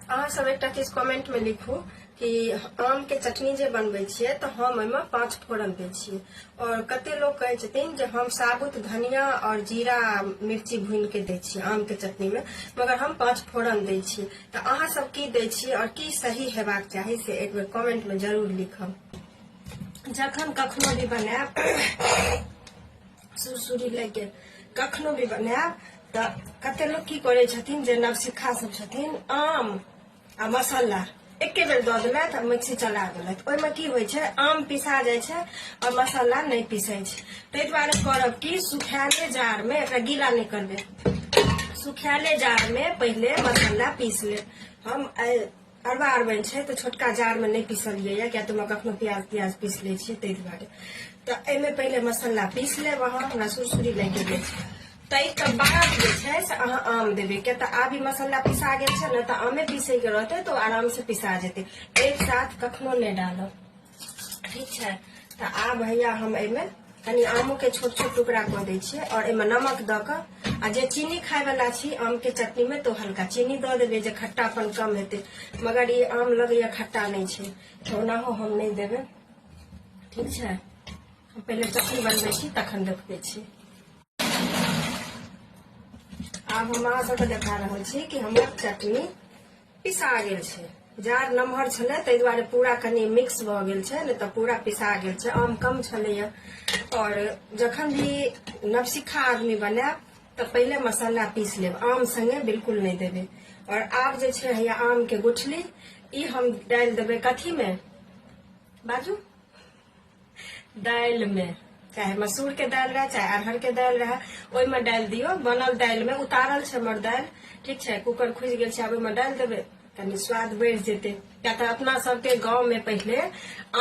अहाँ सब एकटा चीज कमेंट में लिखू कि आम के चटनी जे बनबै छियै तऽ हम ओहिमे पाँच फोरन दै छियै और कते लोग कहै छथिन जे हम साबुत धनिया और जीरा मिर्ची भून के दै छियै आम के चटनी में मगर हम पाँच फोरन दै छियै तऽ अहाँ सब की दै छियै और की सही हेबाक चाही से एक बेर कमेंट में जरूर लिखब जखन कखनो भी बनायब सुरसुरी लैके कखनो भी बनायब तऽ कते लोक की करै छथिन जे नवसिक्खा सब छथिन आम आ मसाला एके बेर दऽ देलथि आ मिक्सी चला देलथि ओहिमे की होइ छै आम पिसा जाइ छै आओर मसाला नहि पिसै छै ताहि दुआरे करब कि सुखायले जाड़मे एकरा गीला नहि करबै सुखायले जाड़मे पहिले मसाला पीस लेब हम अरबा अरबनि छै तऽ छोटका जारमे नहि पीसलिए यऽ किएक तऽ कखनो प्याज प्याज पीस लै छियै ताहि दुआरे तऽ एहिमे पहिले मसाला पीस लेब अहाँ हमरा सुरसुरी लागि गेल छै ताहिके बाद जे छै से अहाँ आम देबै किएक तऽ आब ई मसाला पिसा गेल छै ने तऽ आमे पीसैके रहतै तऽ ओ आरामसँ पिसा जेतै एक साथ कखनो नहि डालब ठीक छै तऽ आब हैया हम एहिमे कनि आमोके छोट छोट टुकड़ा कऽ दै छियै आओर एहिमे नमक दऽ कऽ आ जे चीनी खायवला छी आमके चटनीमे तऽ हल्का चीनी दऽ देबै जे खट्टापन कम हेतै मगर ई आम लगैए खट्टा नहि छै तऽ ओनाहो हम नहि देबै ठीक छै हम पहिले चटनी बनबै छी तखन देखबै छी आब हम अहाँ सभके देखा रहल छी कि हमर चटनी पिसा गेल छै जार नमहर छलै ताहि दुआरे पूरा कनि मिक्स भऽ गेल छै नहि तऽ पूरा पिसा गेल छै आम कम छलैए आओर जखन भी नवसिखा आदमी बनायब तऽ पहिले मसाला पीस लेब आम सङ्गे बिल्कुल नहि देबै आओर आब जे छै हैया आमके गुठली ई हम डालि देबै कथीमे बाजू दालि में चाहे मसूर के दालि रहे चाहे अरहर के दालि रहे ओहि में डालि दियो बनल दालि में उतारल छै हमर दालि ठीक छै कुकर खुजि गेल छै आब ओहिमे डालि देबै कनि स्वाद बढ़ि जेतै किया तऽ अपना सबके गाँव में पहिले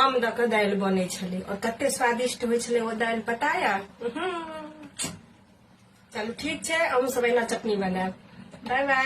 आम दऽ कऽ दालि बनै छलै आओर कते स्वादिष्ट होइ छलै ओ दालि पता यऽ उहुं। चलू ठीक छै अहूँ सब एहिना चटनी बनायब बाय बाय